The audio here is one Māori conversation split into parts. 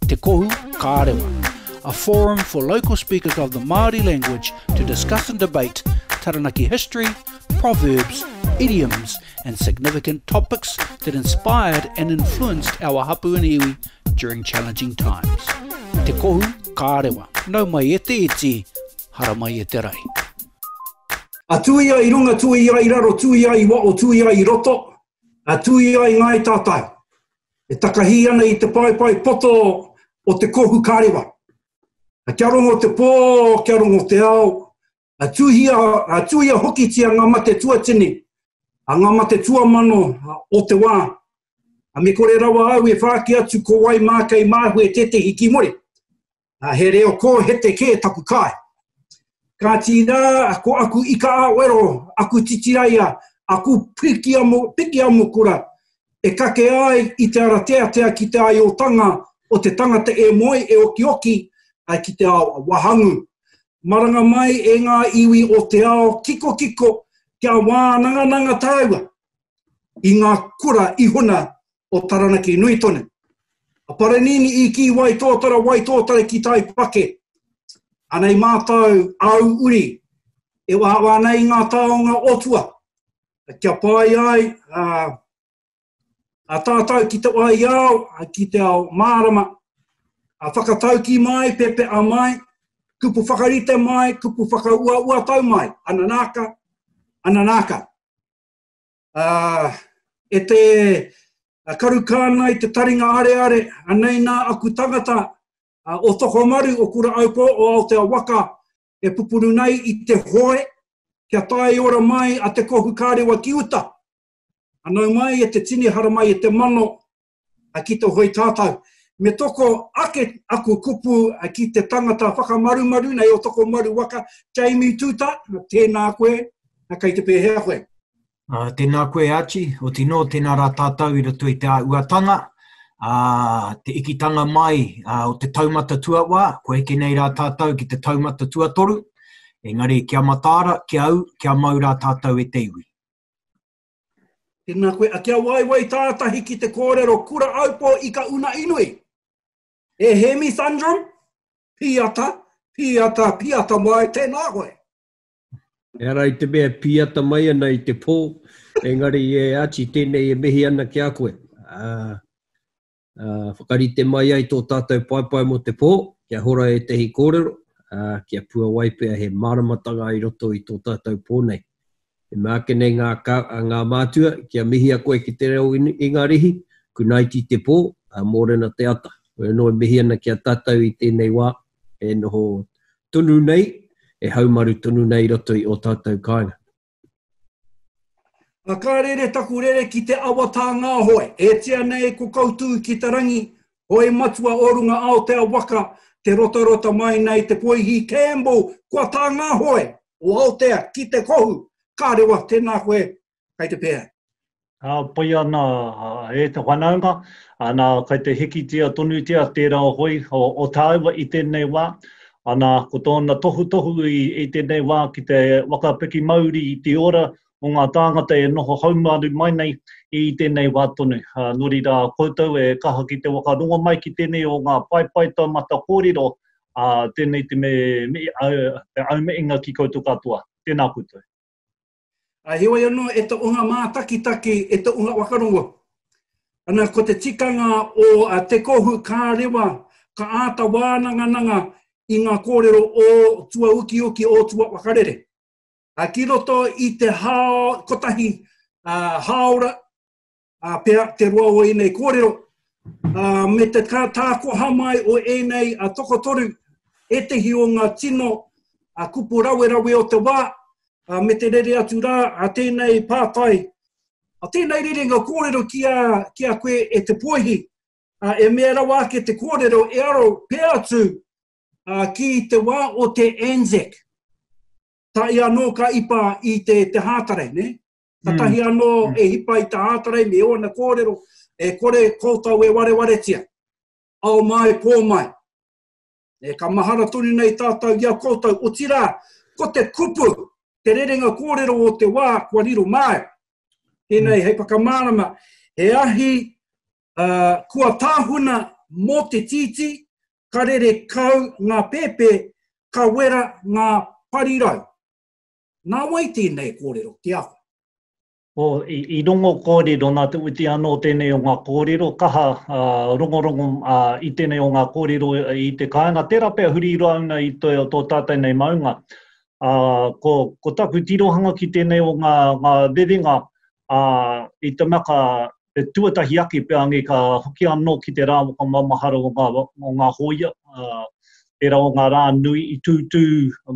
Te Kohu Kārewa, a forum for local speakers of the Māori language to discuss and debate Taranaki history, proverbs, idioms and significant topics that inspired and influenced our hapu and iwi during challenging times. Te Kohu Kārewa, nau mai e te iti, hara mai e te rai. A tui ai runga, tui ai raro, tui ai wa o tui ai roto, A tui ai Ngāi Tātai, e takahī ana i te paepae poto o te kohu karewa. A kia rongo te pō, kia rongo te ao, a tuhia, a tuhia hokitia ngā mate tuatini, a ngā mate tuamano o te wā. A me kore rawa au e whāki atu ko wai mā kei māhue tētehi ki muri. uh, he reo kōhete kē taku kai. Kāti nā, ko aku ika a wero, aku titiraia, aku piki amu, piki amu kura, e kake ai i te ara teatea ki te ai o tanga, o te tangata e moe, e oki oki, ai ki te ao a wahangu. Maranga mai e ngā iwi o te ao kiko kiko kia wānangananga tāua i ngā kura i huna o Taranaki nui tonu. A Paranini i ki wai tōtara, wai tōtara ki tai pake. Anei mātou au uri e wawa ana i ngā taonga o tua. Kia pai ai a, a tātou ki te wai ao, ki te ao mārama. A whakatauki mai, pepe a mai, kupu whakarite mai, kupu whakaua ua tau mai. Ananaka, ananaka. E te karu kānga i te taringa areare, anei nā aku tangata, o Tokomaru, o Kuraaupo, o Aotea waka, e pupuru nei i te hoe, kia tae ora mai a Te Kohu Karewa ki uta. Anau mai e te tini hara mai e te mano, a ki to hoi tātau. Me toko ake aku kupu a ki te tangata whakamarumaru nei o toko maru waka, Jamie Tuta, tēnā koe, a kei te pēhea koe. Uh, tēnā koe Archie, o tino, tēnā rā tātou i roto i te āuatanga, uh, te ikitanga mai uh, o te taumata tuawā, ko eke nei rā tātou ki te taumata tuatoru, engari kia mataara, kia au, kia mau rā tātou e te iwi. Tēnā koe, a kia waiwai tātahi ki te kōrero kura aupō i ka una inui. E Hemi Thundrum, pīata, pīata, pīata mai, tēnā koe. E ara i te mea pīata mai ana i te pō, engari e ati tēnei e mihi ana ki a koe. Uh, whakarite mai ai tō tātou paepae mō te pō, kia hora ētehi kōrero, ā, kia puawai pea he māramatanga i roto i tō tātou pō nei. E mea ake nei ngā, ngā mātua, kia mihia koe ki te reo Ingarihi, kunaiti te pō, ā, mōrena te ata. Hoi anō e mihi ana ki a tātou i tēnei wā e noho tonu nei, e haumaru tonu nei i roto i ō tātou kāinga. A ka rere taku rere ki te awa tā ngā hoe, e tia nei ko Kautū ki te rangi, hoe matua o runga Aotea waka, te rotarota mai nei te poihi Campbell, kua tā ngā hoe o Aotea ki te kohu, ka rewa, tēnā koe, kai te pēhea. Hāpai ana e te whanaunga, ana, kei te hikitia tonutia tērā hoi o tāua i tēnei wā, ana, ko tōna tohutohu i tēnei wā ki te whakapiki mauri i te ora o ngā tāngata e noho haumaru mai nei i tēnei wā tonu. Nō reira, koutou e kaha ki te whakarongo mai ki tēnei o ngā paepae taumata kōrero, ā, tēnei te aumeinga ki koutou katoa. Tēnā koutou. A heoi anō e to unga mātakitaki, e to unga wakarongo. Ana ko te tikanga o a te kohu kā rewa, ka āta wānangananga i ngā kōrero o tua ukiuki, o tua wakarere. A ki roto i te hao kotahi, a, haora, a pea te roa o ēnei kōrero, a, me te tākoha mai o ēnei a tokotoru, ētehi o ngā tino a kupu rawerawe o te wā, a, me te rere atu rā a tēnei pātai, a tēnei rerenga kōrero ki a, ki a koe e te pōihi, a, e mea rawa ake te kōrero e aro pea atu a, ki te wā o te Anzac. Tā i anō ka ipa i te, te hātare, ne? Katahi mm. anō mm. e hipa i ta ātarai me ōna kōrero, e kore koutou e warewaretia. Ao mai, pō mai. E ka mahara tonu nei tātou i a koutou, otirā, ko te kupu, te rerenga kōrero o te wā, kua riro māia. Tēnei, mm. hei whakamārama, he ahi uh, kua tāhuna mō te tīti, ka rere kau ngā pēpē, ka wera ngā parirau. Nā wai tēnei kōrero, te awha? O, i rongo kōrero, nā Te Witi anō tēnei o ngā kōrero, kaha rongorongo i tēnei o ngā kōrero i te kāinga. Tērā pea huri roa ana i tō tātou nei maunga. Ko, ko taku tirohanga ki tēnei o ngā, ngā rerenga i te mea ka, He tuatahi ake pea ange ka hoki anō ki te rā whakamaumahara o ngā, o ngā hōia, ā, tērā o ngā rā nui i tūtū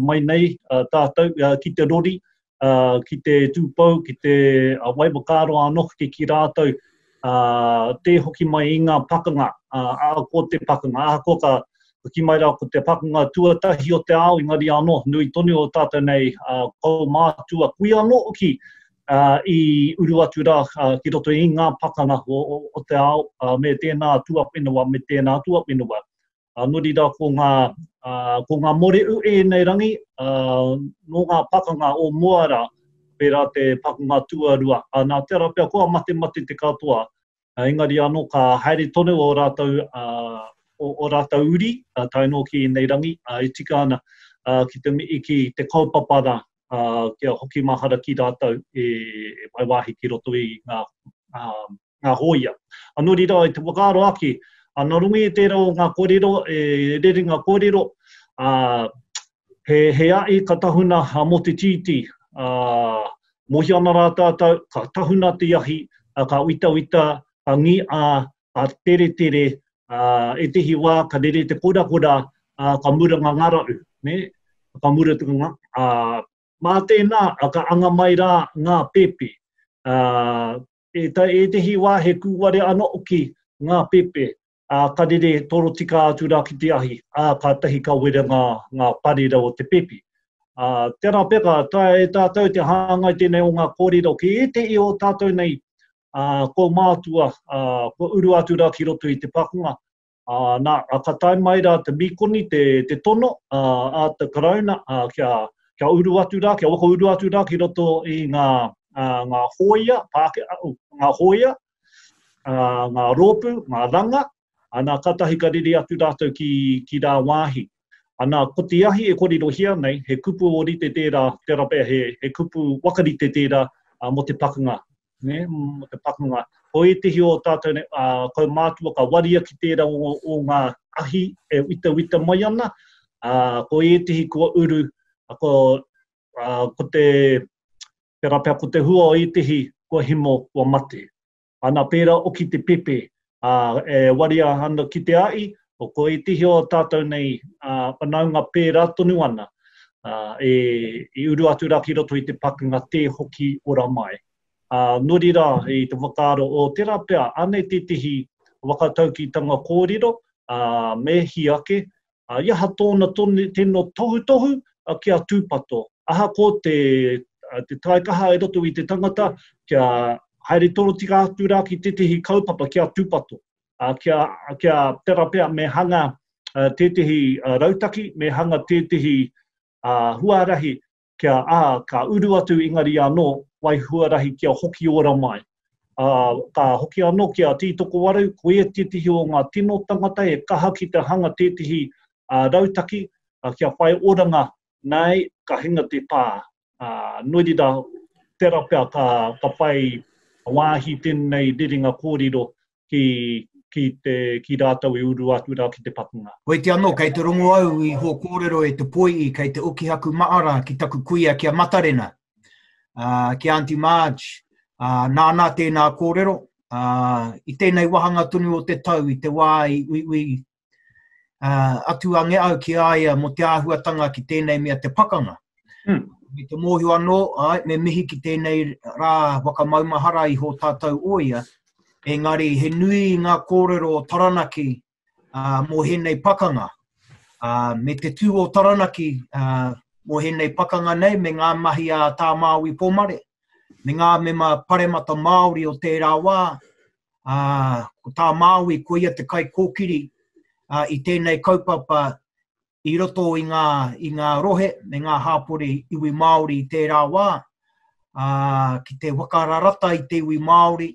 mai nei tātou ki te rori, ā, ki te tūpou, ki te wai whakaaro anō hoki ki rātou, ā, tē hoki mai i ngā pakanga, ā, ahakoa te pakanga, ahakoa ka, ka kī mai rā ko te pakanga tuatahi o te ao, engari anō, nui tonu o tātou nei, ā, kaumātua, kui anō hoki ā, i uru atu rā ki roto i ngā pakanga o te ao, ā, me tēnā tuawhenua, me tēnā tuawhenua. Ā, nō reira, ko ngā, ā, ko ngā mōrehu i ēnei rangi, ā, nō ngā pakanga o mua rā, pērā te pakanga tuarua. Ā, nā te ara pea, kua matemate te katoa, engari anō ka haere tonu ō rātou, ō rātou uri tae noa ki ēnei rangi e tika ana ki te mihi ki te kaupapa rā kia hoki mahara ki rātou e whai wāhi ki roto i ngā hōia. Anō reira, i te whakaaro ake, nā runga i tērā o ngā kōrero e rere ngā kōrero, He, he aʻi ka tahuna a Motitiiti, ā, mohi ana rā tātou, ka tahuna te ahi, ā, ka witawita, ka ngi a, ka teretere, ā, ētehi wā ka rere te korakora, ā, ka mura ngā ngāraʻu, nē, ka mura te ngā, ā, mā tēnā, ā, ka anga mai rā ngā pepe, ā, e, ētehi wā he kūware anō hoki ngā pepe, ā, ka rere torotika atu rā ki te ahi, ā, kātahi ka wera ngā, ngā parera o te pepi. Ā, tērā pea ka taea e tātou te hāngai tēnei o ngā kōrero ki ētehi o tātou nei, ā, kua mātua, ā, kua uru atu rā ki roto i te pakanga. Ā, nā, ā, ka tae mai rā te mīkoni, te, te tono, ā, ā te Karauna, ā, kia, kia uru atu rā, kia whakauru atu rā ki roto i ngā, ā, ngā hōia, Pākehā, ū, ngā hōia, ngā rōpū, ngā ranga, ana katahi ka rere atu rātou ki, ki rā wāhi. Ana, ko te ahi e korirohia nei, he kupu ōrite tērā, tērā pea he, he kupu wakarite tērā uh, mō te pakanga. Ne? Mō te pakanga. Ko ētehi o tātou ne, uh, kaumātua ka waria ki tērā o, o ngā ahi e wita wita mai ana, uh, ko ētehi kua uru, uh, ko, uh, ko te Tera pea ko te hua o etihi kua himo kua mate. Ana pera oki te pepe a e waria ana ki te aʻi, o ko etihi o tatou nei a whanaunga pera tonu ana a e i uru atu ra ki roto i te pakenga te hoki ora mai. A nori ra i te whakaaro o tera pea anei tetihi whakataukitanga korero a me hi ake A i aha tōna tino tohutohu? Kia tūpato. Ahakoa te taikaha i roto i te tangata, kia haere torotika atu rā ki tētehi kaupapa kia tūpato. Kia tera pea me hanga tētehi rautaki, me hanga tētehi huarahi kia, ā, ka uru atu Ingari anō, wai huarahi kia hoki ora mai. Ā, ka hoki anō ki a Tītokowaru, ko ia tētehi o ngā tino tangata e kaha ki te hanga tētehi rautaki kia whai oranga, nā, ka hinga te pā. Ā, nō reira, tērā pea ka whai wāhi tēnei rerenga kōrero ki, ki, te, ki rātou e uru atu rā ki te pakanga. Hoiti anō, kei te rongo au i hō kōrero e te poiī kei te ukihaku maara ki taku kuia ki a Matarena, uh, ki Aunty Marge, uh, nāna tēnā kōrero, uh, i tēnei wahanga tonu o te tau, i te wā i uiui Uh, atu a ngea au ki a ia mo te āhuatanga ki tēnei mea te pakanga. Mm. Me te mōhio anō, ai, me mihi ki tēnei rā wakamaumahara i hō tātou o ia, engari he nui ngā kōrero o Taranaki uh, mō hēnei pakanga. Uh, me te tū o Taranaki uh, mō hēnei pakanga nei, me ngā mahi a tā Māui Pōmare, me ngā mema paremata Māori o tērā wā, Uh, ko tā Māui, ko ia te kai kōkiri uh, i tēnei kaupapa i roto i ngā, i ngā rohe me ngā hāpori iwi Māori i tērā wā, uh, ki te wakararata i te iwi Māori,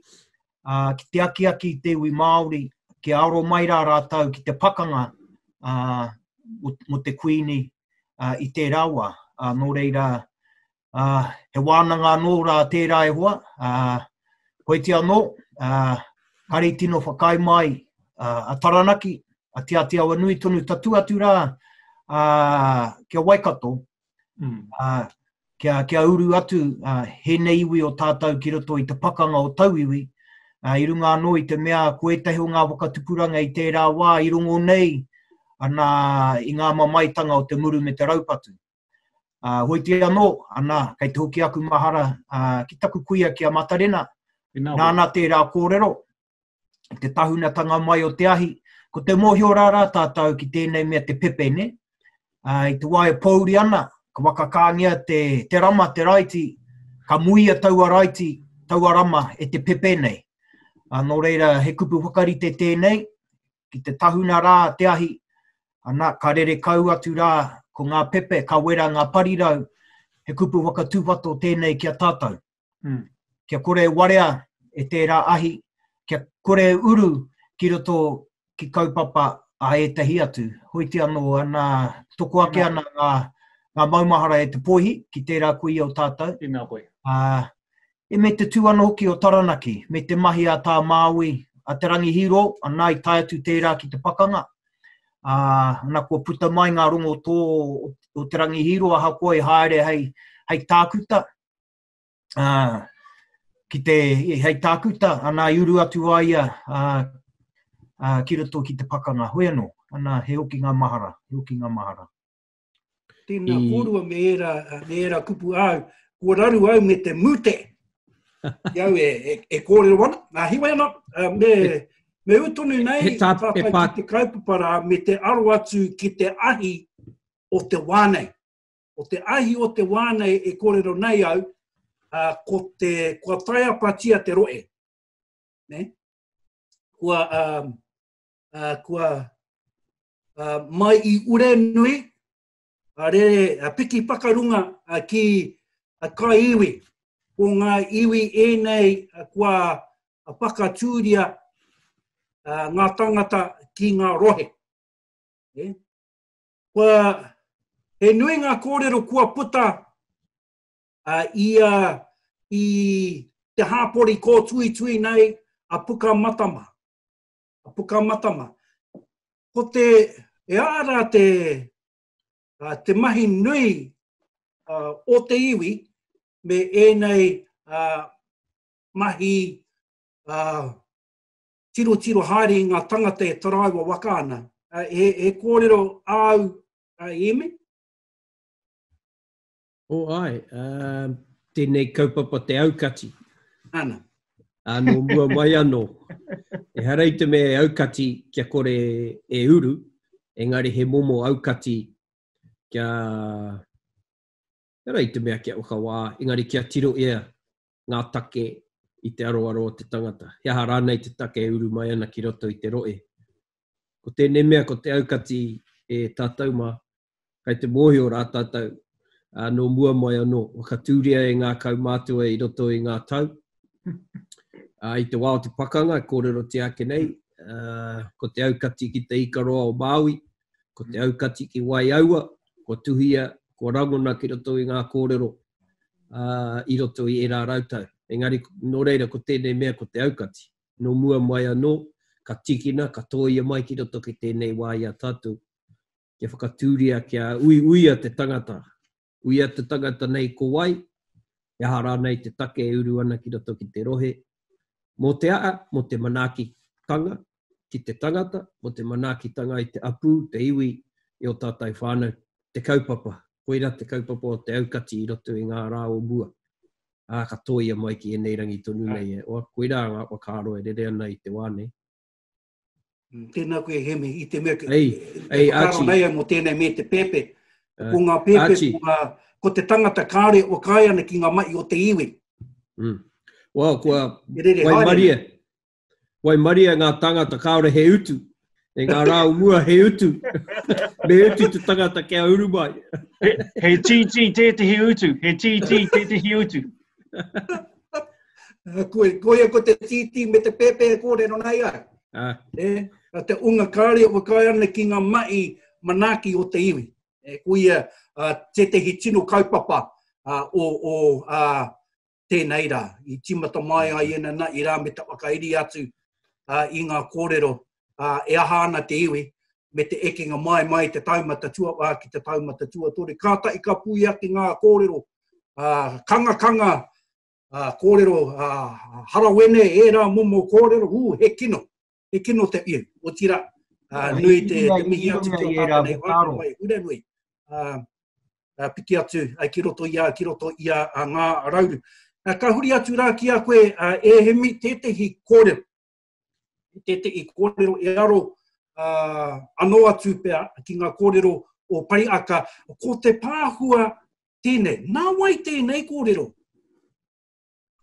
uh, ki te akiaki i te iwi Māori, ki aro mai rā rātou ki te pakanga uh, mo, mo te kuini uh, i tērā wā. Uh, nō reira, Uh, he wānanga anō rā tērā e hoa. Uh, koiti anō, uh, kari tino whakai mai uh, a Taranaki, a Te Atiawa Nui tonu tatu atu rā uh, kia Waikato, mm. uh, kia, kia uru atu uh, hēnei iwi o tātou ki roto i te pakanga o tauiwi, uh, i runga anō i te mea ko ētahi o ngā whakatupuranga i tērā wā i rongo nei ana i ngā mamaitanga o te muru me te raupatu. Uh, hoi te anō, anā, kei te hoki aku mahara uh, ki taku kuia ki a Matarena, nāna tērā kōrero, te tahunatanga mai o te ahi, ko te mōhio rārā tātou ki tēnei mea te pepe, ne? Uh, I te wae pōuri ana, ka wakakāngia te, te rama, te raiti, ka muia taua raiti, taua rama e te pepe nei. Uh, nō reira, he kupu whakarite tēnei, ki te tahuna rā te ahi, ana, ka rere kau atu rā ko ngā pepe, ka wera ngā parirau, he kupu whakatūpato tēnei ki a tātou. Mm. Kia kore e warea e tērā ahi, kia kore e uru ki roto ki kaupapa a ētahi atu. Hoiti anō, ana, toko ake ana ngā, ngā maumahara e te pōihi ki tērā kuia o tātou. Inā koe. Uh, E me te tū ana hoki o Taranaki, me te mahi a Tā Māui, a Te Rangi Hīro, anā i tae atu tērā ki te pakanga, ā, ana kua puta mai ngā rongotō o Te Rangi Hīro ahakoa i haere hei, hei tākuta, ā, ki te, hei tākuta, anā i uru atu a ia, ā, ā, ki roto ki te pakanga. Hoi anō, anā, he hoki ngā mahara, he hoki ngā mahara. Tēnā I... kōrua me ērā, me ērā kupu āu, kua raru au me te mute. I au e, e, e kōrero ana, nā hiwa ana, uh, me, me utonu nei he tā, tātai he pā... ki te kaupapara me te aro atu ki te ahi o te wānei. O te ahi o te wānei e kōrero nei au, uh, ko te, kua taiapatia te roe. Ne? Kua, um, uh, kua uh, mai i ure nui, a uh, rere uh, piki pakarunga uh, ki a uh, kai iwi. Ko ngā iwi ēnei uh, kua uh, pakatūria uh, ngā tangata ki ngā rohe. Yeah. Kua, he nui ngā kōrero kua puta uh, i, uh, i te hāpori kō tui tui nei a puka matama. a Pukamatama. Ko te, e ara te, uh, te mahi nui uh, o te iwi me ēnei uh, mahi uh, tiro tiro haere i ngā tangata e taraiwa waka ana. Uh, he, he kōrero āu, uh, Iemi? O oh, ai, uh, tēnei kaupapa te aukati. Ana. Anō mua mai anō. E harei te mea e aukati kia kore e uru, engari he momo aukati kia... E harei te mea kia ukawa, engari kia tiro ea ngā take i te aroaro o te tangata. He aha rānei te take e uru mai ana ki roto i te rohe? Ko tēnei mea, ko te aukati e tātou mā, kai te mōhio rā tātou, ā, nō mua mai anō, whakatūria e ngā kaumātua i roto i ngā tau. Ā, i te wā o te pakanga, e kōrerotia ake nei, ā, ko te aukati ki te ika roa o Māui, Ko te aukati ki Waiaua, kua tuhia, kua rangona ki roto i ngā kōrero uh, i roto i ērā rautau. Engari, nō reira, ko tēnei mea ko te aukati. Nō mua mai anō, ka tikina, ka tōia mai ki roto ki tēnei wā i a tātou, kia whakatūria, kia uiuia te tangata, Uia te tangata nei ko wai, he aha rānei te take e uru ana ki roto ki te rohe, mō te aha, mō te manaakitanga ki te tangata, mō te manaakitanga i te apū, te iwi, i ō tātou whānau, te kaupapa, koirā te kaupapa o te aukati i roto i ngā rā o mua, ā, ka tōia mai ki ēnei rangi tonu nei e, oa, koirā ngā whakaaro e rere ana i te wā nei. Mm, tēnā koe Hemi, i te mea, ei, ei, āti. Nei ai mō tēnei me te pēpē. Uh, ko ngā pēpē, ko, ngā, ko te tangata kāre o kāi ana ki ngā mai o te iwi. Mm. Wow, kua, Erere, wai maria, wai maria ngā tangata kāore he utu. E ngā rā o mua he utu. me utu te tangata kia uru mai. he, he titi tētehi utu, he titi tētehi utu. koe, koe ko te tītī me te pēpē e kōrero nei ai. Ah. E, a te unga kāre o kai ana ki ngā mai manaki o te iwi. E, ko ia uh, tētehi tino kaupapa uh, o, o uh, tēnei rā. I timata mai ai ena na, i rā me ta whakairi atu uh, i ngā kōrero ā, e aha ana te iwi, me te ekenga mai, mai i te taumata tuawhā ki te taumata tuatoru. Kātahi ka pui ake ngā kōrero, ā, kangakanga, ā, kōrero, ā, harawene, ērā momo kōrero, ū, he kino, he kino te iwi, otirā, ā, nui te, te mihi atu ki a tātou nei whānau mai Huranui, ā, ā, piki atu, ā, ki roto i a, ki roto i a, a Ngā Rauru. Ā, ka huri atu rā ki a koe, ā, e Hemi, tētehi kōrero, i tētehi kōrero e aro uh, anō atu pea ki ngā kōrero o Pariaka, ko te pāhua tēnei. Nā wai tēnei kōrero?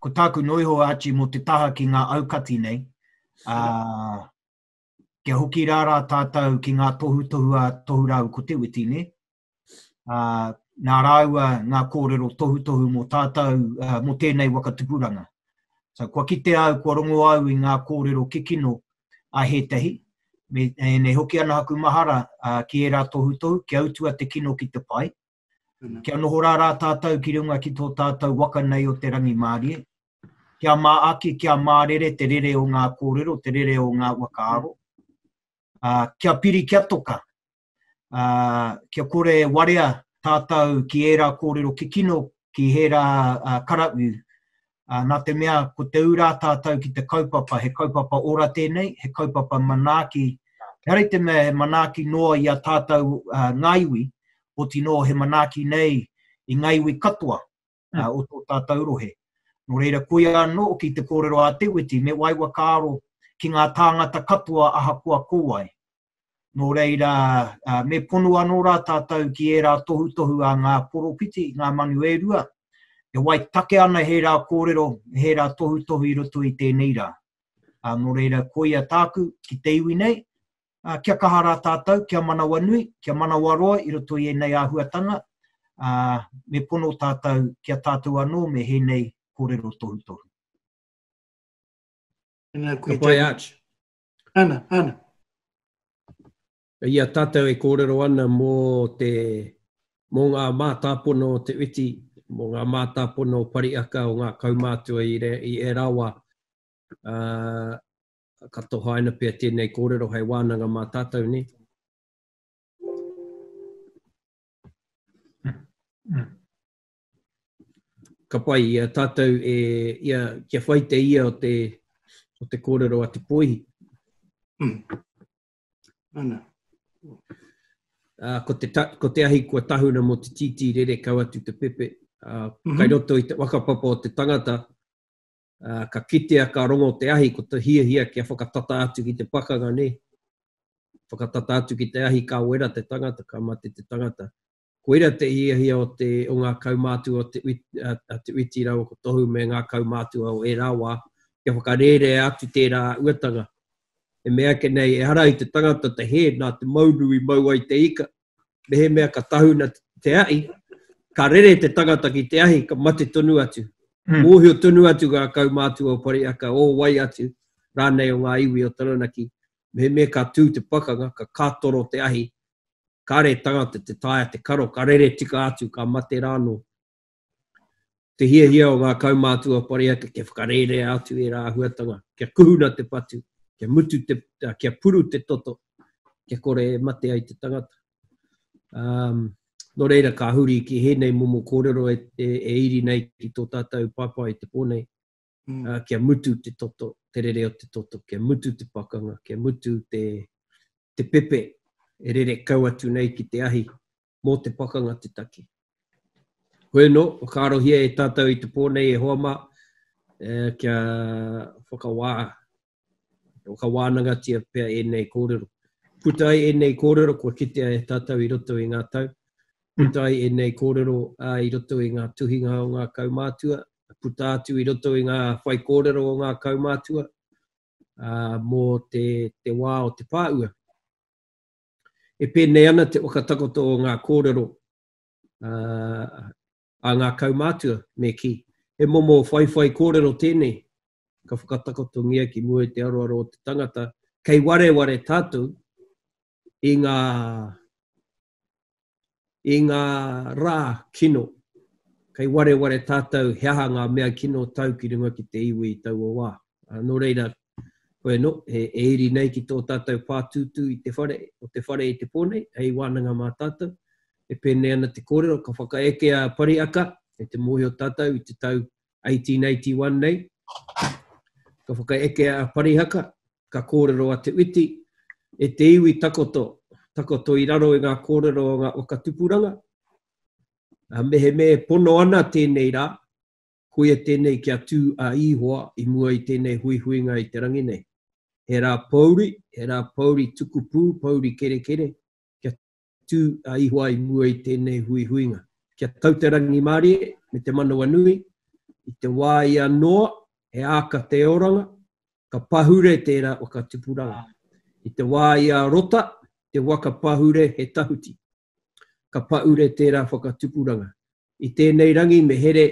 Ko tāku noiho āti mō te taha ki ngā aukati nei, uh, kia hoki rārā tātou ki ngā tohutohu a tohu rāu ko te witi, ne? uh, nā rāua ngā kōrero tohutohu mō tātou, uh, mō tēnei waka tupuranga. So, kua kite au, kua rongo au i ngā kōrero kikino a hētahi, me, e nei hoki ana aku mahara uh, ki ērā tohutohu, kia utua te kino ki te pai, kia noho rā rā tātou ki runga ki tō tātou waka nei o te rangi mārie, kia mā aki, kia mā rere te rere o ngā kōrero, te rere o ngā wakaaro, uh, kia piri, kia toka, Uh, kia kore e warea tātou ki ērā kōrero kikino, ki ērā uh, karapu. Uh, nā te mea, ko te ūrā tātou ki te kaupapa, he kaupapa ora tēnei, he kaupapa manaaki. Kia rei te mea, he manaaki noa i a tātou uh, ngā iwi, o tino he manaaki nei i ngā iwi katoa. uh, o tō tātou rohe. Nō reira, koia anō ki te kōrero a Te Witi, me wai wa kāro ki ngā tāngata katoa ahakoa ko wai. Nō reira, uh, me pono anō rā tātou ki ērā tohutohu a ngā poropiti, ngā manu e rua, e wai take ana he rā kōrero, he rā tohutohu i roto i tēnei rā. Uh, nō reira, koia tāku ki te iwi nei, ā, kia kaha rā tātou, kia manawanui, kia manawaroa i roto i ēnei āhuatanga, ā, me pono tātou ki a tātou anō me hēnei kōrero tohutohu. Ana, koe te... Arch. Ana, ana. I a tātou e kōrero ana mō te, mō ngā mātāpono o te witi, mō ngā mātāpono o Pariaka, o ngā kaumātua i, re, i e rawa, uh, Ka tohaina pea tēnei kōrero hei wānanga mā tātou, nē? Ka pai i a tātou e, ia, kia whai te ia o te, o te kōrero a Te Poihi. Ana. Ā, ko te, ko te ahi kua tahuna mō te tītī rere kau atu te pepe. Ā, kai roto i te whakapapa o te tangata, ā, ka kitea ka rongo te ahi ko te hiahia kia whakatata atu ki te pakanga nē, whakatata atu ki te ahi ka wera te tangata, ka mate te tangata. Koira te hiahia o te, o ngā kaumātua o te uiti, a te uiti rāua ko Tohu me ngā kaumātua o ērā wā, kia whakarērea atu tērā uatanga. E mea ake nei, ehara i te tangata te hē nā te maunu i mau ai te ika, mehemea ka tahuna te ahi, ka rere te tangata ki te ahi, ka mate tonu atu. Mm. Mōhio tonu atu ngā kaumātua o Pariaka, o wai atu, rānei o ngā iwi o Taranaki. Mehemea ka tū te pakanga, ka kātoro te ahi, kāre tangata te taia te karo, ka rere tika atu, ka mate rānō. Te hiahia o ngā kaumātua pareake kia whakarērea atu ērā āhuatanga, kia kuhuna te patu, kia, mutu te, kia puru te toto, kia kore e mate ai te tangata. Um, Nō reira, ka huri ki hēnei momo kōrero e, e, e iri nei ki tō tātou pāpā i te pō nei. kia mutu te toto, te rere o te toto, kia mutu te pakanga, kia mutu te te pepe e rere kau atu nei ki te ahi, mō te pakanga te taki. Koe nō, whakaarohia e tātou i te pō nei e hoa mā, kia whakawā Ko ka wānangatia pea ēnei kōrero. Puta ai ēnei kōrero kua kitea e tātou i roto i ngā tau, puta ai ēnei kōrero i roto i ngā tuhinga o ngā kaumātua, puta atu i roto i ngā whaikōrero o ngā kaumātua mō te, te wā o te pāua. E pēnei ana te whakatakoto o ngā kōrero uh, a ngā kaumātua, me kī, he momo whaiwhai kōrero tēnei ka whakatakotongia ki mua i te aroaro o te tangata, kei wareware tātou i ngā, i ngā rā kino, kei wareware tātou he aha ngā mea kino tau ki runga ki te iwi i taua wā. Ā, nō reira, koe nō, e, e iri nei ki tō tātou pātūtū i te whare, o te whare i te pō nei, hei wānanga mā tātou, E pēnei ana te kōrero, ka whakaeke a Pariaka me te mōhio tātou i te tau 1881 nei. Ka whakaeke a Parihaka, ka kōrero a Te Witi, e te iwi takoto, takoto i raro i ngā kōrero o ngā waka tupuranga. A mehemea e pono ana tēnei rā, koia tēnei kia tū a Ihoa i mua i tēnei huihuinga i te rangi nei. He rā pouri, he rā pouri tukupū, pouri kerekere, tū a Ihoa i mua i tēnei huihuinga. Ki a tau te rangimārie me te manawanui, i te wā i a Noa, he āka te oranga, ka pahure tērā whakatupuranga. I te wā i a Rota, te waka pahure he tahuti. Ka pahure tērā whakatupuranga. I tēnei rangi me here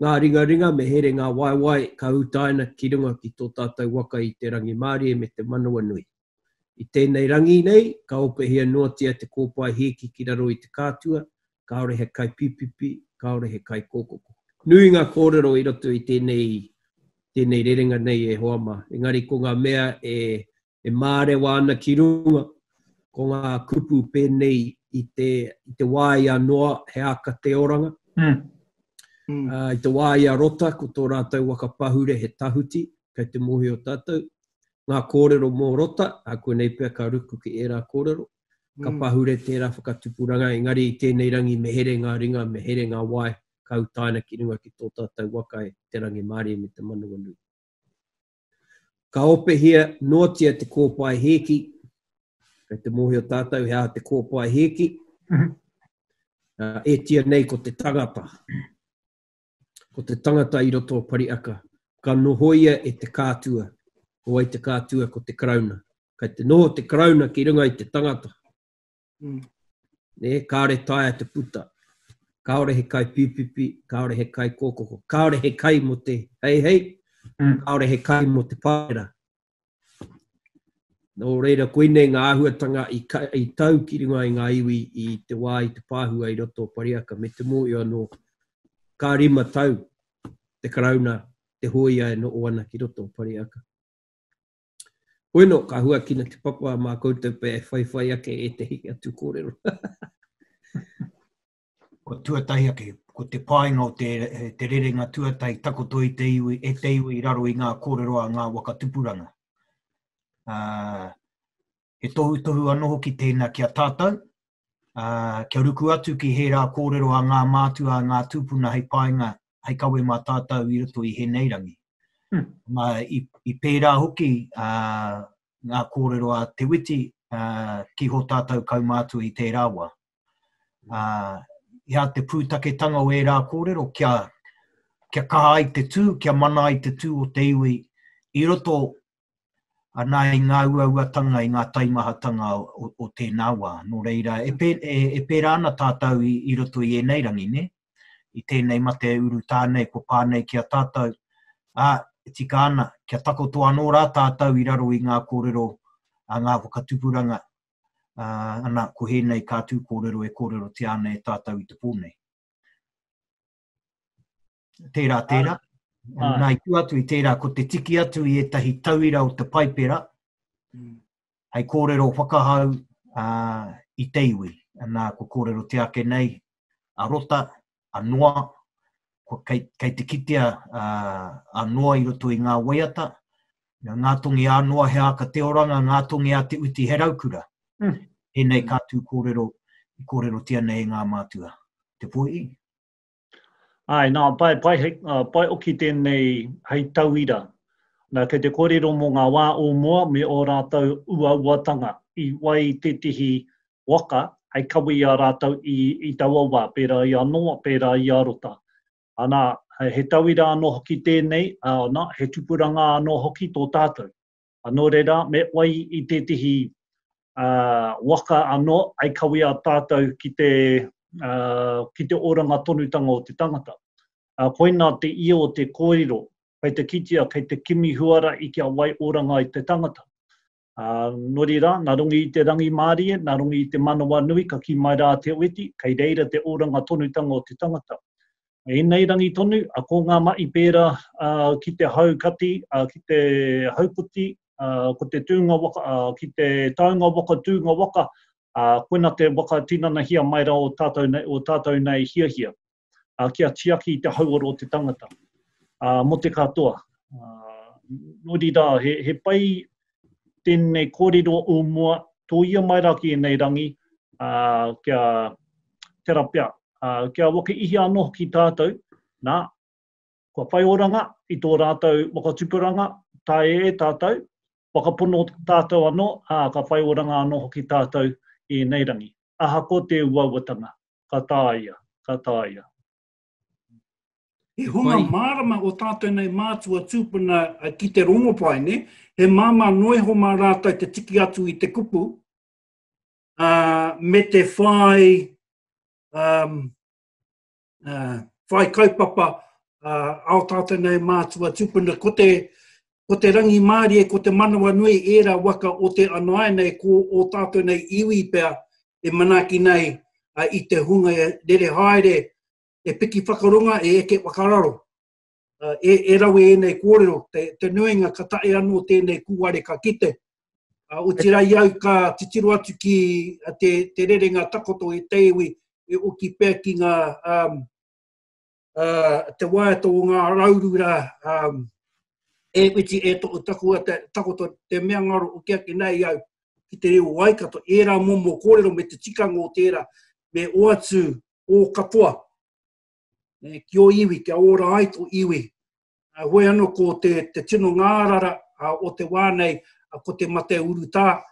ngā ringaringa, me here ngā waewae ka utaina ki runga ki tō tātou waka i te rangimārie me te manawanui. I tēnei rangi nei, ka ōpehia noatia te kōpae hīki ki raro i te kātua, kāore he kaipīpipi, kāore he kaikōkoko. Nui ngā kōrero i roto i tēnei, tēnei rerenga nei e hoa mā, engari ko ngā mea e, e mārewa ana ki runga, ko ngā kupu pēnei i te, i te wā i a Noa, he āka te oranga. Mm. Mm. Uh, I te wā i a Rota, ko tō rātou waka pahure he tahuti, kei te mōhio tātou, ngā kōrero mō Rota, a koinei pea ka ruku ki ērā kōrero, ka pahure tērā whakatupuranga, engari i tēnei rangi me here ngā ringa, me here ngā wae, ka utaina ki runga ki tō tātou waka e te rangimārie me te manawanui. Ka opehia noatia te kōpae hēki, kei te mōhio tātou he aha te kōpae hēki, ētia nei ko te tangata. Ko te tangata i roto o Pariaka, ka nohoia e te kātua, ko wai te kātua ko te Karauna. Kai te noho te Karauna ki runga i te tangata. Mm. Ne, kāore taia te puta. Kāore he kai pipipi, kāore he kai kōkoko, kāore he kai mo te hei hei, mm. kāore he kai mo te pāera. Nō reira, koinei ngā āhuatanga i, ka, i tau ki runga i ngā iwi i te wā i te pāhua i roto o Pariaka, me te mōhio anō, ka rima tau te Karauna, te hōia e noho ana ki roto o Pariaka. Bueno, ka huakina te papa mā koutou pea e whaiwhai ake e te hiki atu kōrero. Ko tuatahi ake, ko te painga o te, te rerenga tuatahi takoto i te iwi, e te iwi i raro i ngā kōrero a ngā waka tupuranga. Uh, he tohutohu anō hoki tēnā ki a tātou, uh, kia ruku atu ki he rā kōrero a ngā mātua, a ngā tūpuna hei painga, hei kawe mā tātou i roto i hēnei rangi. Hmm. Ma, i, i pērā hoki uh, ngā kōrero a Te Witi uh, ki ho tātou kaumātua i tērā wā. Uh, i a te pūtaketanga o ērā kōrero kia, kia kaha ai te tū, kia mana ai te tū o te iwi i roto anā i ngā uauatanga, i ngā taimahatanga o, o tēnā wā. Nō reira, e, pē, e, e pērā ana tātou i, i roto i ēnei rangi, ne? I tēnei mate uru tānei, ko pānei ki a tātou. Ā, e tika ana, kia takoto anō rā tātou i raro i ngā kōrero a ngā whakatupuranga, Uh, ana, ko hēnei kā tū kōrero e kōrero te ana e tātou i te pō nei. Tērā, tērā. Ai. Nā, i tū atu i tērā, ko te tiki atu i ētahi tauira o te paipera, mm. hei kōrero whakahau uh, i te iwi. Nā, ko kōrero te ake nei, a rota, anoa, kei, kei te kitea uh, anoa i roto i ngā waiata, nga ngā tongi anoa he āka te oranga, ngā tongi a te uti he raukura. Mm. Enei ka tū kōrero, i kōrero tia nei e ngā mātua. Te poi? Ai, nā, pai, pai, hei, uh, pai oki tēnei hei tauira. Nā, kei te kōrero mō ngā wā o mua me ō rātou uauatanga i wai tētihi waka hei kawe i a rātou i, i taua wā, pērā i a Noa, pērā i a Rota. Ana, he tauira anō hoki tēnei, ana, he tupuranga anō hoki tō tātou. Nō reira, me whai i tētehi uh, waka anō, ai kawe a tātou ki te, uh, ki te oranga tonutanga o te tangata. Uh, koina te ia o te kōrero, kei te kitea, kei te kimi huara i kia wai oranga i te tangata. Ā, nori rā, nā Rongi i te rangimārie, nā Rongi i te manawanui ka kī mai rā a Te Ueti, kei reira te oranga tonutanga o te tangata. Ēnei rangi tonu, a, ko ngā maʻi pērā, ā, ki te hau kati, ā, ki te hau puti, ā, ko te tūnga waka, ā, ki te taunga waka, tūnga waka, ā, koina te waka tinanahia mai rā o tātou nei, o tātou nei hiahia. ā, kia tiaki i te hauora o te tangata, ā, mō te katoa. Ā, nō reira, he, he pai tēnei kōrero o mua, tō ia mai rā ki ēnei rangi, ā, kia tera pea, ā, kia waka ihi anō ki tātou, nā, kua whai oranga i tō rātou whakatupuranga, tae e tātou, whakapono tātou anō, ā, ka whai oranga anō hoki tātou i ēnei rangi. Ahakoa te uauatanga, ka tāia, ka tāia. He hunga mārama o tātou nei mātua tūpuna ki te rongopaine, he māmā noa iho mā rātou te tiki atu i te kupu, uh, me te whai, um, uh, whai kaupapa uh, ao tātou nei mātua tūpuna, ko te, Ko te rangimārie, ko te manawanui ērā waka o te anae nei, ko ō tātou nei iwi pea e manaaki nei i te hunga rere haere, e piki whakaronga, e eke whakararo. E rawe ēnei kōrero, te nuinga ka tae anō tēnei kūare ka kite, otirā i au ka titiro atu ki te rerenga takoto i te iwi e oki pea ki ngā uh, te waiata o ngā raurura um, e witi e to takua te takoto te mea ngaro o kia ki nei au ki te reo waikato e ra mo mo korero me te tika ngo tera me o atu o katoa e ki o iwi kia ora ai to iwi a hoe ano ko te te tino ngārara o te wā nei ko te mate uruta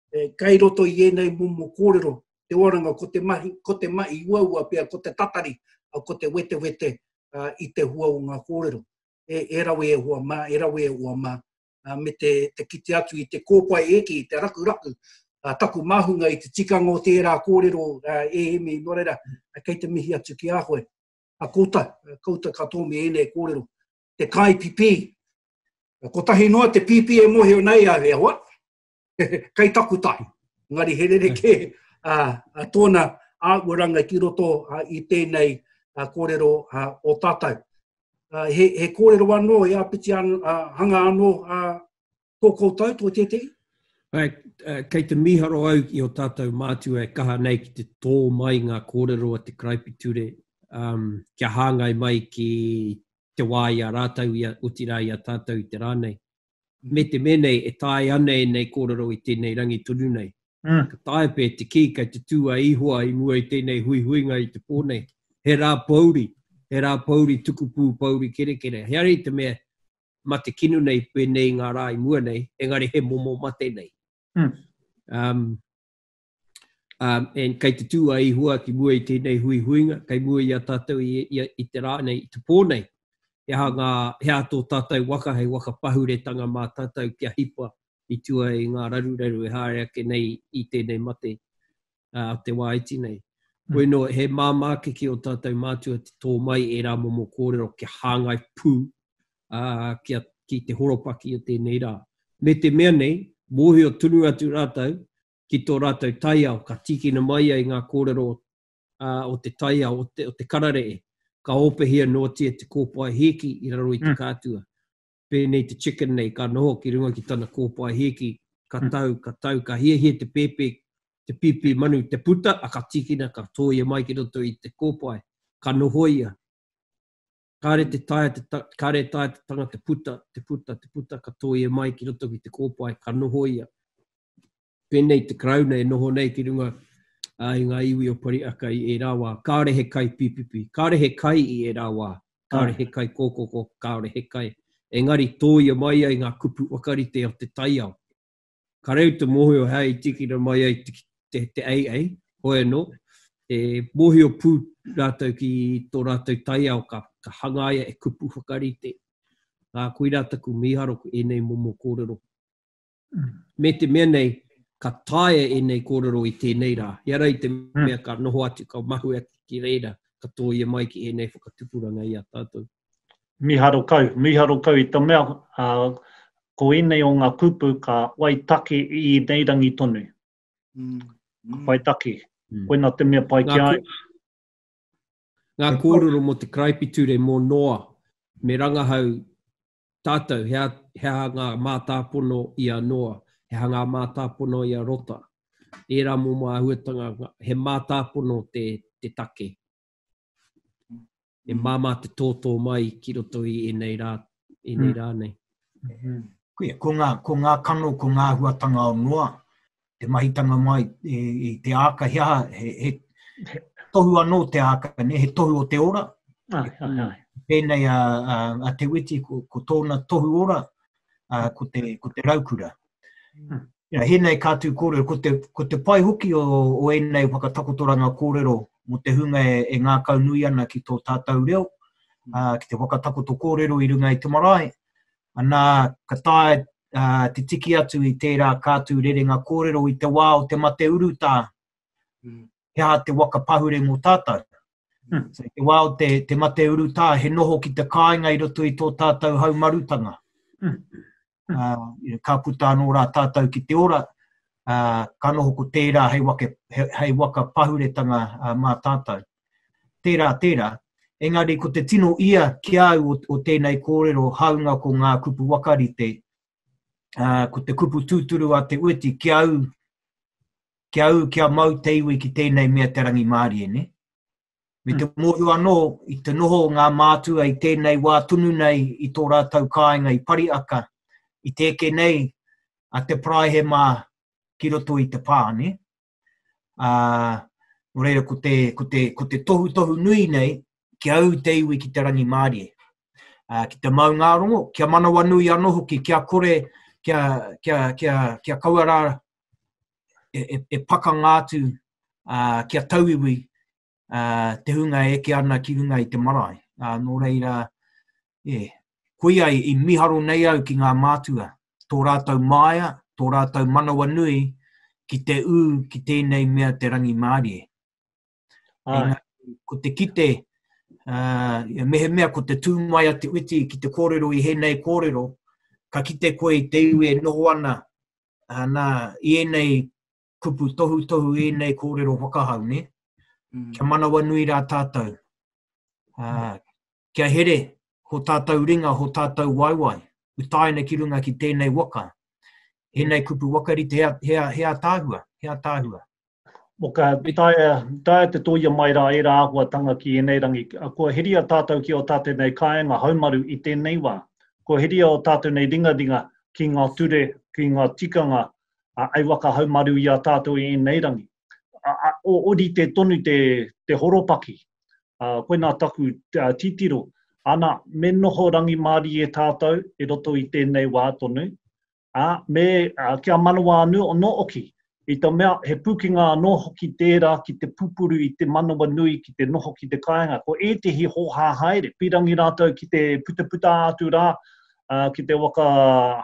Kei roto i ēnei momo kōrero te oranga ko te mahi, ko te mahi uaua pea, ko te tatari, ko te wetewete i te hua o ngā kōrero. E rawe e hoa mā, e rawe e hoa mā, me te kite atu i te kōpae e ki, i te rakuraku, taku māhunga i te tikanga o tērā kōrero e Emi, nō reira, kei te mihi atu ki a koe. A koutou, koutou katoa me ēnei kōrero, te kāi pipī, kotahi noa te pīpī e mōhio nei au e hoa, Kai taku tahi. Ngari he rere ke uh, tōna āuaranga ki roto uh, i tēnei uh, kōrero uh, o tātou. Uh, he, he kōrero anō, e apiti an, uh, hanga anō uh, tō koutou, tō tētehi? Hai, uh, kei te miharo au i o tātou mātua e kaha nei ki te tō mai ngā kōrero a te karaipiture um, kia hāngai mai ki te wā i a rātou, i a, utirā i a tātou i te rā nei. me te mea nei e tae ana ēnei kōrero i tēnei rangi tonu nei. Ka taea pea te kī kei te tū a Ihoa i mua i tēnei huihuinga i te pō nei, he rā pouri, he rā pouri tukupū pouri kerekere. He ari te mea mate kino nei pēnei i ngā rā i mua nei, engari he momo mate nei. Um, and kei te tū a Ihua ki mua i tēnei hui huinga, kei mua i a tātou i, i, i te rā nei, i te pō nei. He aha, ngā, he aha tō tātou waka, hei waka pahuretanga mā tātou kia hipa i tua i ngā raruraru e haere ake nei i tēnei mate a uh, te wā iti nei. Mm. Bueno, he māmā ke ki o tātou mātua te tō mai e rā momo kōrero kia hāngai pū uh, kia, ki te horopaki o tēnei rā. Me te mea nei, mōhio tunu atu rātou, ki tō rātou taiao, ka tīkina mai ai ngā kōrero o te taiao, o te kararee, ka ōpehia noatia te kōpae hīki i raro i te kātua. Pēnei te chicken nei, ka noho ki runga ki tana kōpae hīki, ka tau, ka tau, ka hiahia te pēpē, te pīpī manu, te puta, a ka tīkina, ka tōia mai ki roto i te kōpae, ka nohoia. Kāre te taea te ta, kāre e taea te tanga te puta, te puta, te puta, ka tōia e mai ki roto ki te kōpae, ka noho ia. Pēnei te Karauna e noho nei ki runga uh, i ngā iwi o Pariaka i ērā wā. Kāre he kai pipipi, kāre he kai i ērā wā, kāre he kai kōkoko, kāre he kai. Engari tōia mai ai ngā kupu wakarite o te taiao. Ka reu te mōhio hea i tikina mai ai te AA, hoi anō, e mōhio pū rātou ki tō rātou taiao ka hangaia e kupu whakarite. Ā, koirā taku mīharo ki ēnei momo kōrero. Me te mea nei, ka taea ēnei kōrero i tēnei rā, i a rā i te mea ka noho atu, ka mahue atu ki reira, ka tōia mai ki ēnei whakatupuranga i a tātou. miharo kau, miharo kau i te mea ko inei o nga kupu ka wai take i inei rangi tonu. Ka whai take. Koina te mea pai ki a au. Nga korero mo te karaipiture mo Noa me rangahau tatou he aha nga matapono i a Noa, he aha nga matapono i a Rota. Era momo ahuatanga he matapono te take. e māmā te tōtō mai ki roto i ēnei rā, ēnei mm. rā nei. Mm-hmm. Kuia, ko ngā, ko ngā kano, ko ngā huatanga o noa, te mahitanga mai e, e te āka, he, he, he tohu anō te āka, ne, he tohu o te ora. Ai, ai, ai. Pēnei a, a, a Te Witi, ko, ko tōna tohu ora, a, ko, te, ko te raukura. Mm. Ia, hēnei ka tū kōrero, ko te, ko te pai hoki o, o ēnei whakatakotoranga kōrero mō te hunga e, e ngākau nui ana ki tō tātou reo, mm. uh, ki te whakatakoto kōrero i runga i te marae, anā, ka tae uh, te tiki atu i tērā kātū rerenga kōrero i te wā o te mate urutā, mm. he aha te waka pahure mō tātou. Mm. So, te wā o te, te mate urutā, he noho ki te kāinga i roto i tō tātou haumarutanga. Mm. uh, ka puta anō rā tātou ki te ora, uh, ka noho ko tērā hei, wake, hei, hei waka pahuretanga uh, mā tātou. Tērā, tērā. Engari, ko te tino ia ki au o, o tēnei kōrero, haunga ko ngā kupu wakarite, uh, ko te kupu tūturu a te ueti ki au, ki au, ki a mau te iwi ki tēnei mea te rangi mārie, ne? Me te hmm. mōhio anō, i te noho ngā mātua i tēnei wā tunu nei i tō rātou kāinga i Pariaka, i te eke nei a te paraihe mā ki roto i te pā, ne? Uh, o reira, ko te, ko, te, ko te tohu tohu nui nei, ki au te iwi ki te rangi mārie. Uh, ki te maungārongo, kia manawa nui anō hoki, kia kore, kia, kia, kia, kia kaua rā e, e, e pakanga atu uh, kia tauiwi uh, te hunga e eke ana ki runga i te marae. Uh, nō reira, yeah, koia i, i miharo nei au ki ngā mātua, tō rātou māia, tō rātou manawa nui, ki te ū, ki tēnei mea te rangi mārie. Aina, ko te kite, uh, mehemea ko te tū mai a te witi ki te kōrero i hēnei kōrero, ka kite koe i te iwi e noho ana, uh, nā, i ēnei kupu tohu tohu i ēnei kōrero whakahau, ne? Mm. Kia manawa nui rā tātou. Uh, Kia here ho tātou ringa, ho tātou waewae, utaina ki runga ki tēnei waka. Ēnei kupu wakarite, he, he, he ātaahua, he ātaahua. Mo ka taea, taea te toia mai rā ērā āhuatanga ki ēnei rangi. Kua heria tātou ki o tātou nei kāenga haumaru i tēnei wā. Kua heria o tātou nei ringaringa ki ngā ture, ki ngā tikanga, a, ei waka haumaru i a tātou i ēnei rangi. orite tonu te, te horopaki. Uh, koina taku uh, titiro. Ana, me noho rangimārie tātou e roto i tēnei wā tonu. A, me uh, kia manawa anu no oki. I te mea, he pūkenga anō hoki tērā ki te pupuru i te manawa nui ki te noho ki te kāinga. Ko ētehi hōhā haere, pirangi rātou ki te putaputa atu rā, uh, ki te waka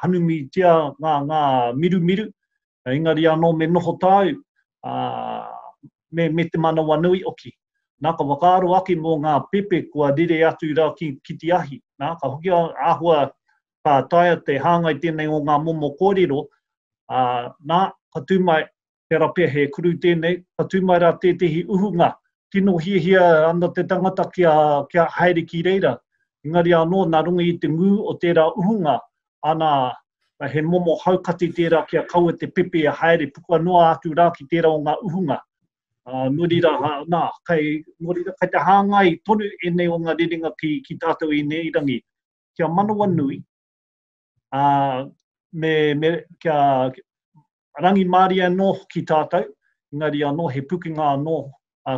hanumitia ngā, ngā mirumiru, Engari anō me noho tāu, ā, me, me te manawanui hoki. Nā, ka whakaaro ake mō ngā pepe kua rere atu rā ki, ki te ahi. Nā, ka hoki a, āhua ka taea te hāngai tēnei o ngā momo kōrero, ā, nā, ka tū mai, tērā pea he kuru tēnei, ka tū mai rā tētehi uhunga, tino hiahia ana te tangata kia, kia haere ki reira. Engari anō, nā runga i te ngū o tērā uhunga, ana, he momo haukati tērā kia kaua te pepe e haere puka noa atu rā ki tērā o ngā uhunga. Uh, nō rira, nā, kei, nō rira, kei te hāngai tonu ēnei o ngā rerenga ki, ki tātou i nei rangi. Kia manawa nui, uh, me, me, kia, Rangimārie anō hoki tātou, engari anō he pukenga anō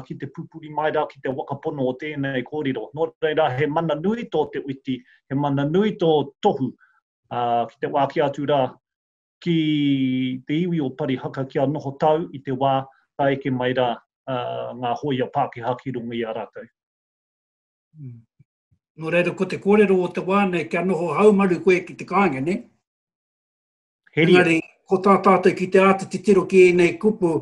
ki te pupuri mai rā ki te whakapono o tēnei kōrero. Nō reira, he mana nui tō te witi, he mana nui tō tohu ki te wāki atu rā ki te iwi o Parihaka kia noho tau i te wā ka eke mai rā ngā hōia Pākehā ki runga i a rātou. Nō reira, ko te kōrero o te wā nei kia noho haumaru koe ki te kāinga, nē? Heria. Engari, ko tā tātou ki te āta titiro ki ēnei kupu,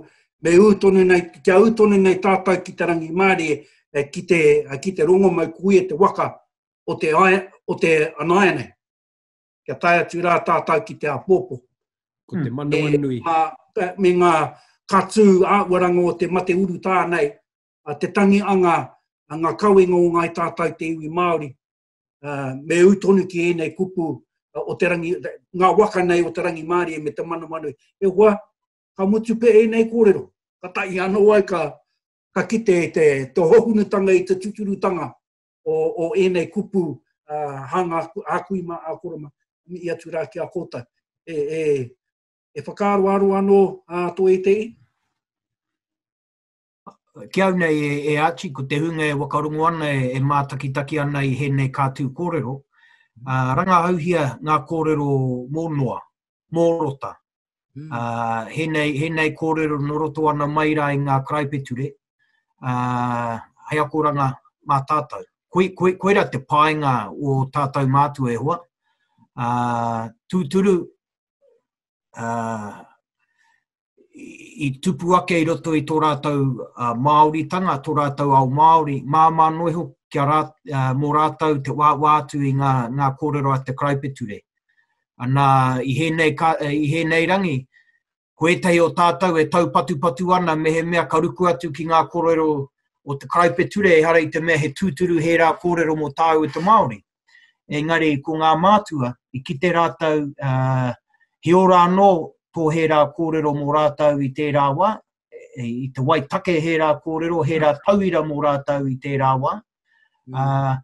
me ū tonu nei, kia ū tonu nei tātou ki te rangimārie, eh, ki te, eh, ki te rongomau kuia te waka o te, ae, o te anaia nei. Kia tae atu rā tātou ki te apōpō. Ko te hmm. manawa e, nui. Ma, eh, me ngā katū āwaranga o te mate uru tā nei, te tangi anga, ngā kawenga o ngai tātou te iwi Māori, uh, me ū tonu ki ēnei kupu uh, o te rangi, ngā waka nei o te rangi mārie me te manamanu. E hoa, ka mutu pe ēnei kōrero. Ka tahi anō ai ka, ka kite te, te hohunutanga i te tuturutanga o, o ēnei kupu uh, hanga ākui mā ākoroma i atu rā ki a kōtai. E, e, e whakaaroaro anō uh, tō e te i? Ki au nei e, e Archie, ko te hunga e wakarongo ana, e, e mātakitaki ana i hēnei kātū kōrero, uh, rangahauhia ngā kōrero mō noa, mō rota. Mm. Uh, hēnei, hēnei kōrero no roto ana mai rā i ngā karaipeture, uh, hei akoranga mā tātou. Koi, koi, koira te painga o tātou mātua e hoa. Uh, tūturu, uh, i tupu ake i roto i tō rātou uh, Māoritanga, tō rātou ao Māori, māmā noe ho kia rā, uh, mō rātou te wāwā atu i ngā, ngā kōrero a te karaipeture. Anā, i hēnei, ka, eh, i hēnei rangi, ko ētahi o tātou e taupatupatu ana mehemea ka ruku atu ki ngā kōrero o te karaipeture, ehara i te mea he tūturu he rā kōrero mō tāu te Māori. Engari, ko ngā mātua, i kite rātou he ora anō tō hērā kōrero mō rātou i tērā wā, i te wai take hērā kōrero, hērā tauira mō rātou i tērā wā. Mm.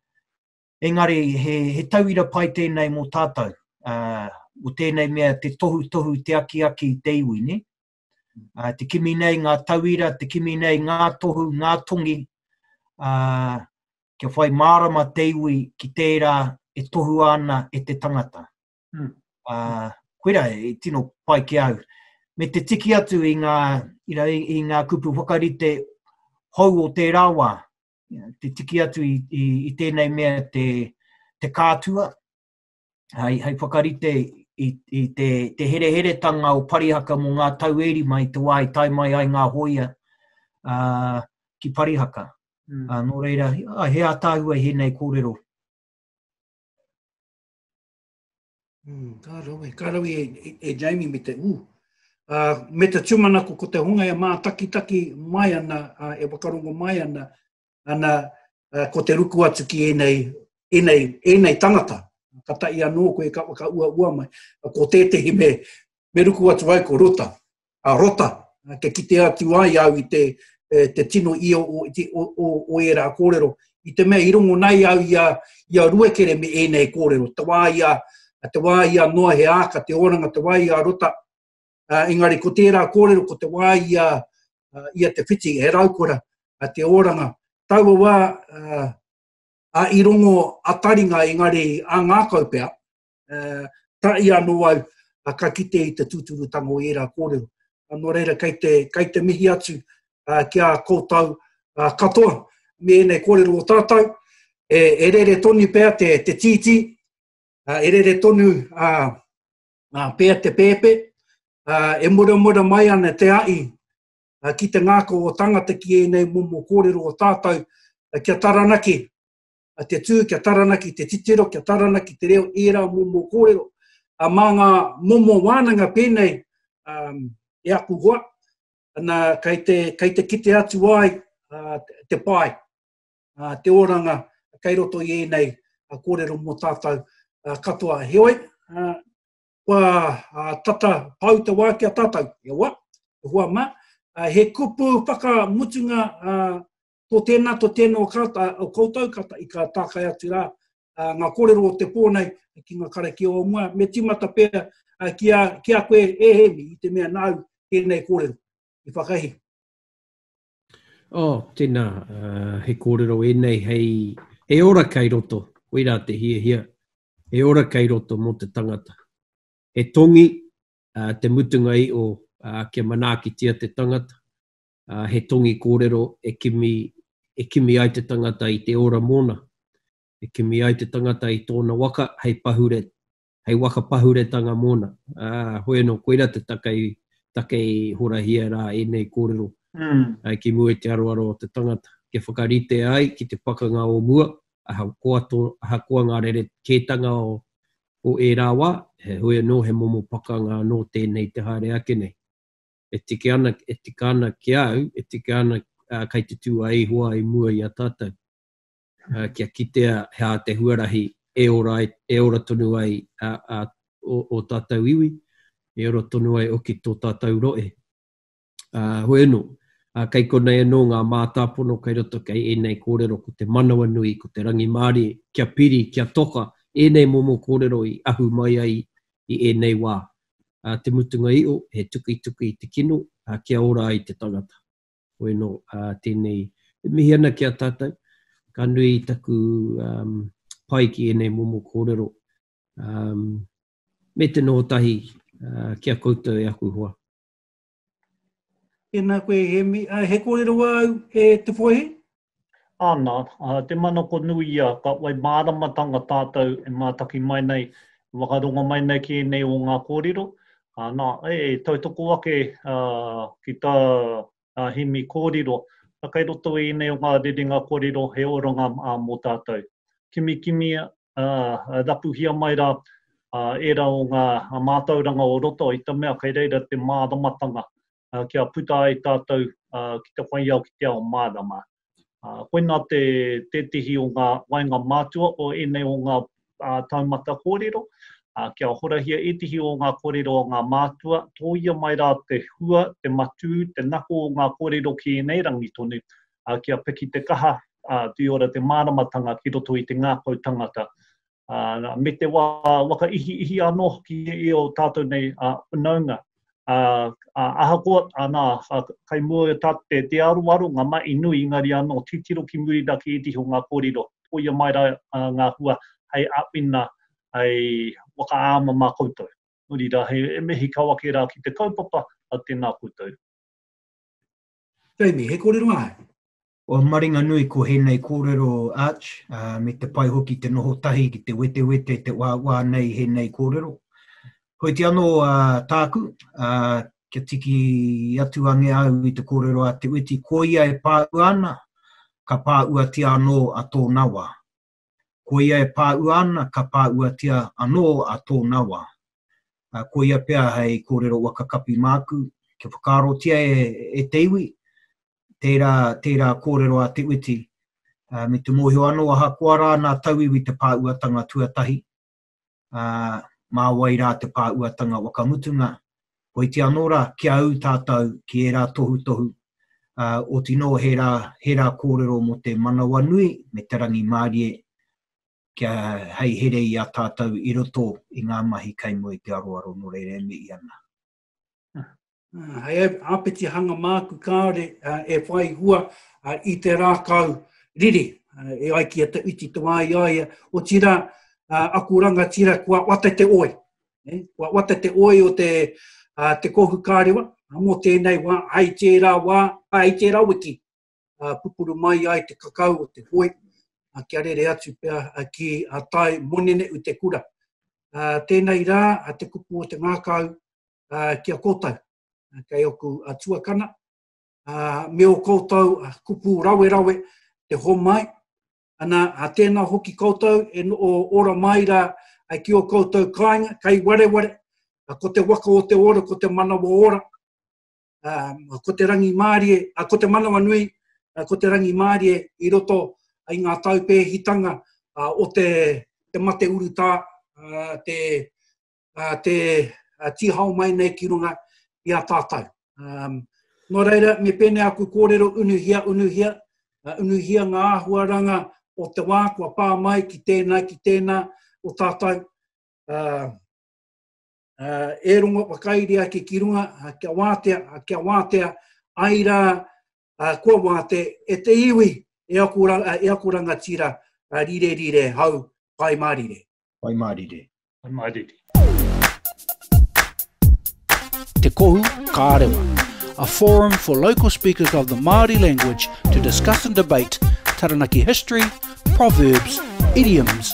Engari, he, he tauira pai tēnei mō tātou. Uh, o tēnei mea te tohutohu, te akiaki, te iwi, ne? Uh, te kimi nei ngā tauira, te kimi nei ngā tohu, ngā tongi, uh, kia whai mārama te iwi ki tērā e tohu ana e te tangata. Mm. Uh, koira, e tino pai ki au. Me te tiki atu i ngā, you know, i, i ngā kupu whakarite hou o tērā wā, te tiki atu i, i, i tēnei mea te, te kātua, hai, hai whakarite i, i te, te hereheretanga o Parihaka mō ngā tau e rima i te wā i tae mai ai ngā hoia uh, ki Parihaka. Mm. Uh, nō reira, uh, he ātāhua i hēnei kōrero. Mm, ka rawe, ka rawe e, e, e Jamie me te ū. Uh, me te tūmanako ko te honga e mātakitaki mai ana, uh, e wakarongo mai ana, ana, uh, ko te ruku atu ki ēnei, ēnei, ēnei tangata. Ka tahi anō koe ka whakaua ua mai. Ko tētehi me, me ruku atu ai ko rota. A rota, uh, ke kite atu ai au i te, uh, te tino ia o, o, o, o ērā kōrero. I te mea, i rongo nei au i a, i a ruekere me ēnei kōrero. Te wā ia, te wā ia noa he āka te oranga, te wā ia rota, Uh, engari, ko tērā kōrero, ko te wā i a, uh, i a Te Whiti, he raukora, uh, te ōranga. Taua wā, uh, a i rongo a taringa, engari, a ngākau pea, uh, ta i anō au, uh, ka kite i te tūturutanga o ērā kōrero. Uh, nō reira, kei te, kei te mihi atu uh, ki a kōtau uh, katoa, me ēnei kōrero o tātou, e, e rere tonu pea te, te tītī, uh, e rere tonu uh, Nā, pea te pēpē, uh, e muramura mai ana te ahi uh, ki te ngākau o tangata ki ēnei momo kōrero o tātou, uh, kia taranaki uh, te tū, kia taranaki te titiro, kia taranaki te reo, ērā momo kōrero. Uh, mā ngā momo wānanga pēnei um, e aku hoa, ana, kei te, kei te kite atu ai uh, te pai. te oranga kei roto i ēnei kōrero mō tātou katoa. Heoi, kua tata pau te wā ki a tātou, e hoa, e hoa mā, he kupu whakamutunga tō tēnā, tō tēnā o koutou, i ka tākai atu rā ngā kōrero o te pō nei ki ngā karakia o mua, me tīmata pea ki a koe e Hēmi, i te mea nāu tēnei kōrero, i whakahī. Oh, tēnā, he kōrero ēnei hei, he ora kei roto, koirā te hiahia, he ora kei roto mō te tangata. He tongi te mutunga i o kia manaakitia te tangata, he tongi kōrero e kimi, e kimi ai te tangata i te ora mōna, e kimi ai te tangata i tōna waka hei pahure hei waka pahuretanga mōna. Ā, hoi anō, koirā te take i, take i horahia rā ēnei kōrero ki mua i te aroaro o te tangata, kia whakaritea ai ki te pakanga o mua, ahakoa tō, ahakoa ngā rerekētanga o, o ērā wā, heoi anō he momo pakanga anō tēnei te haere ake nei. E tika ana, e tika ana ki a au, e tika ana, ā, kei te tū a Ihowa i mua i a tātou. kia kitea he aha te huarahi e ora, e ora tonu ai a, a, o, o tātou iwi, e ora tonu ai oki tō tātou roe. A, hoi anō, a, kei konei anō ngā mātāpono kei roto kei ēnei kōrero ko te manawa nui, ko te rangimārie, kia piri, kia toka, ēnei momo kōrero i ahu mai ai i ēnei wā. A, te mutunga i o, he tukituki i te kino, a, kia ora ai te tangata. Hoi anō, tēnei e mihi ana ki a tātou, ka nui i taku pai ki ēnei momo kōrero, me te noho tahi ki a koutou e aku hoa. Tēnā koe Hemi. He kōrero wā au e Te Whaihi, Ana, te manako nui ia, ka whai māramatanga tātou e mātaki mai nei, e whakarongo mai nei ki ēnei o ngā kōrero, ana, e tautoko ake ki tā Hemi kōrero, a kei roto i ēnei o ngā rerenga kōrero he oranga mō tātou. Kimikimi rapuhia mai rā ērā o ngā mātauranga o roto i te mea kei reira te māramatanga kia puta ai tātou ki te whaiao ki te ao mārama. Koinā te tētehi o ngā waenga mātua o ēnei o ngā taumata kōrero, kia horahia ētehi o ngā kōrero a ngā mātua, tōia mai rā te hua, te matū, te nako o ngā kōrero ki ēnei rangi tonu, kia piki te kaha, whai ora te māramatanga ki roto i te ngākau tangata. ā, me te wā waka ihiihi anō hoki i ō tātou nei whanaunga. Ā, ahakoa, anā, kai mua i ō tātou te aroaro, ngā mahi nui, engari anō, titiro ki muri rā ki ētehi o ngā kōrero, tōia mai rā ngā hua hei āwhina, hei whakaāma mā koutou. Nō reira, rā, he mihi kau ake rā ki te kaupapa, tēnā koutou. Jamie, he kōrero āe? Kua maringanui ko hēnei kōrero o Arch, ā, me te pai hoki te noho tahi ki te wetewete, te uaua nei hēnei kōrero. Heoti anō, ā, tāku, ā, kia tiki atu ange au i te kōrero a Te Witi, ko ia e pāua ana, ka pāuatia anō a tōna wā. Koia e pāua ana ka pāuatia anō a tōna wā. Koia pea hei kōrero waka kapi māku, kia whakaarotia e te iwi tērā, tērā kōrero a Te Witi, me te mōhio anō ahakoa rā nā tauiwi te pāuatanga tuatahi, uh, mā wai rā te pāuatanga wakamutunga, koiti anō rā ki a au tātou ki ērā tohutohu, uh, o tino he rā, he rā kōrero mō te manawa nui me te rangi mārie kia hei here i a tātou i roto i ngā mahi kei mua i te aroaro nō reira e mihi ana. Hei apeti hanga māku kāore e whai hua i te rākau riri e ai ki a te uti te wāi aia, o tira aku rangatira kua wata te oi. Eh? Kua wata te oi o te, uh, te kohu kārewa, mō tēnei wā, ai tērā wā, ai tērā wiki, uh, pupuru mai ai te kakau o te hoi, uh, kia rere atu pia uh, ki a uh, tai monene u te kura. Uh, tēnei rā, uh, te kupu o te ngākau uh, ki a kōtau, uh, kei oku a uh, tuakana, uh, me o kōtau uh, kupu rawe rawe te homai, ana a tēnā hoki koutou e no, o ora mai rā ai ki o koutou kāinga, kai wareware, a ko te waka o te ora, ko te manawa ora, uh, ko te rangi mārie, uh, ko te manawa nui, uh, ko te rangi mārie i roto i ngā taupēhitanga uh, o te, te mate urutā, uh, te, uh, te uh, tihao mai nei ki runga i a tātou. Um, nō reira, me pēnei aku kōrero unuhia, unuhia, uh, unuhia ngā āhuaranga o te wā kua pā mai ki tēnā, ki tēnā o tātou. Uh, uh, e rongo whakairi ake ki runga, uh, kia wātea, uh, kia wātea, ai rā, uh, kua wāte, e te iwi, e aku, ra, uh, e aku rangatira, uh, rire rire, hau, pai mārire. Pai mārire. Pai mārire. Te Kohu Kārewa, a forum for local speakers of the Māori language to discuss and debate Taranaki history, proverbs, idioms